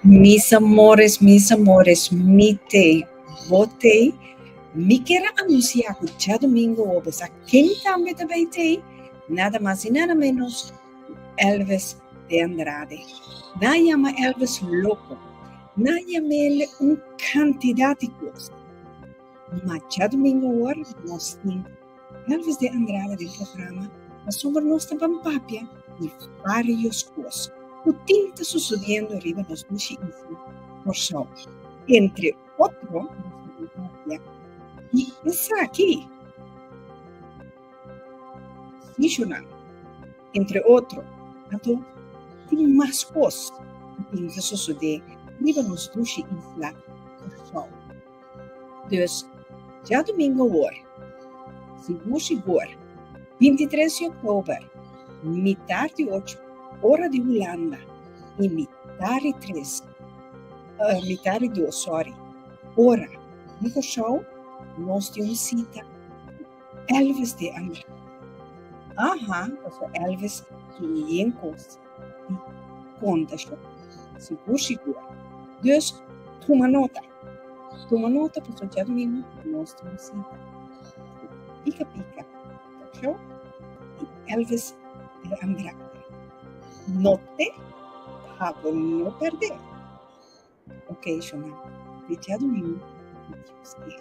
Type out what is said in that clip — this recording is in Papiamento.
Mis amores, mis amores, mi tei, bo tei, mi ker a anunsiá ku dja domingo obe sa ken tambe ta bai tei, nada mas i nada ménos ku Elvis de Andrade. Nan a yama Elvis loko, nan a yam'el un kantidat di kos, ma dja domingo awor nos tin. Tal ves den andrada den programa pasobra nos ta ban papia di varios cos cu tin ta sucediendo riba nos bishi isla Corsou. Entre otro nos ta ban papia di esaki, Sisholand, entre otro, anto tin mas cos cu tin ta sucede riba nos bishi isla Corsou. Dus, djadumingu awor, si bushi boer, binti tres di oktober, mitar di ocho ora di Hulanda i mitar di tres, mitar di dos, sòri, ora di Kòrsou, nos tin un sita ku Elvis de Andrade. Aha, paso Elvis tin un yen kos di konta, shon, si bushi boer. Dus, tuma nota. Tuma nota pa fachar lima pa nos ta visita. Pika Pika, Talk Show, i Elvis El Angrande. No te habo no perdé! Ocasional, di djadumingu na Dios Dia.